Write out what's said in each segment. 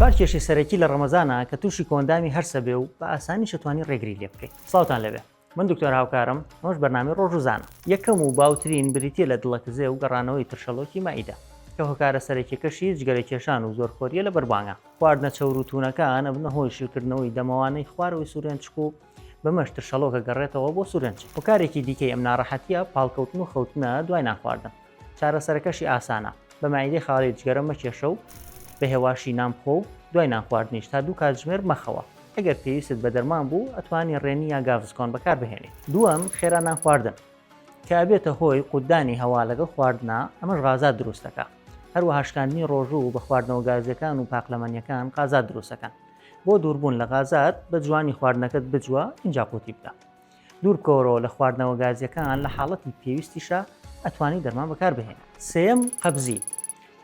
چوار کێشەی سەرەکی لە ڕەمەزانە کە تووشی کۆئەندامی هەرسە بێ و بە ئاسانیشە توانی ڕێگری لێ بکەی. سڵاوتان لەوێ من دکتۆر هاوکارم ئەمەش بەرنامەی ڕۆژ و زانە. یەکەم و باوترین بریتیە لە دڵەکزێ و گەڕانەوەی ترشەڵۆکی مەعیدە کە هۆکارە سەرەکیەکەشی جگەرە کێشان و زۆر خۆریە لە بەربانگە خواردنە چەور و توونەکان ئەبنە هۆی شلکردنەوەی دەمەوانەی خوارەوەی سورێنچک و بەمەش ترشەڵۆکە گەڕێتەوە بۆ سورێنچک. هۆکارێکی دیکەی ئەم ناڕەحەتیە پاڵکەوتن و خەوتنە دوای نانخواردن. چارەسەرەکەشی ئاسانە، بە مەعیدەی خاڵی جگەرە مەکێشە و بە هێواشی نان بخۆ و دوای نان خواردنیش تا دوو کاتژمێر مەخەوە. ئەگەر پێویستت بە دەرمان بوو، ئەتوانی ڕێنی یا گاڤزکۆن بەکاربهێنی. دووەم، خێرا نان خواردن، کە ئەبێتە هۆی قوتدانی هەوا لەگەڵ خواردنا، ئەمەش غازات دروست دەکا. هەروەها شکاندنی ڕۆژوو بە خواردنەوە گازییەکان و پاقلەمەنییەکان غازات دروست دەکەن. بۆ دووربوون لە غازات، بە جوانی خواردنەکەت بجوە، ئینجا قوتی بدە. دوور بکەوەرەوە لە خواردنەوە گازیەکان لە حاڵەتی پێویستیشا ئەتوانی دەرمان بەکار بهێنی. سێیەم، قەبزی،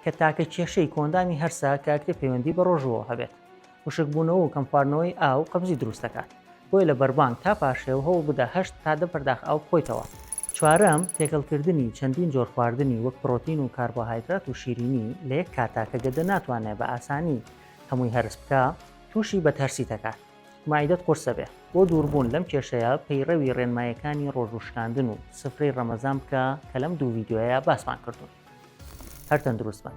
کە تاکە کێشەی کۆئەندامی هەرسە کە ئەکرێ پەیوەندی بە ڕۆژووەوە هەبێت. وشک بوونەوە و کەم خواردنەوەی ئاو قەبزی دروست دەکات. بۆیە لە بەربانگ تا پارشێو هەوڵ بدە هەشت تا دە پەرداخ ئاو بخۆیتەوە. چوارەم، تێکەڵ کردنی چەندین جۆر خواردنی وەک پڕۆتین و کاربۆهایدرات و شیرینی لە یەک کاتا کە گەدە ناتوانێ بە ئاسانی هەمووی هەرس بکا تووشی بەدهەرسی دەکات. مەعیدەت قورسە بێ. بۆ دووربوون لەم کێشەیە پەیڕەوی ڕێنمایەکانی ڕۆژوو شکاندن و سفرەی ڕەمەزان بکە کە لەم دوو ڤیدیۆیە باسمان کردوون. هەر تەندروست بن.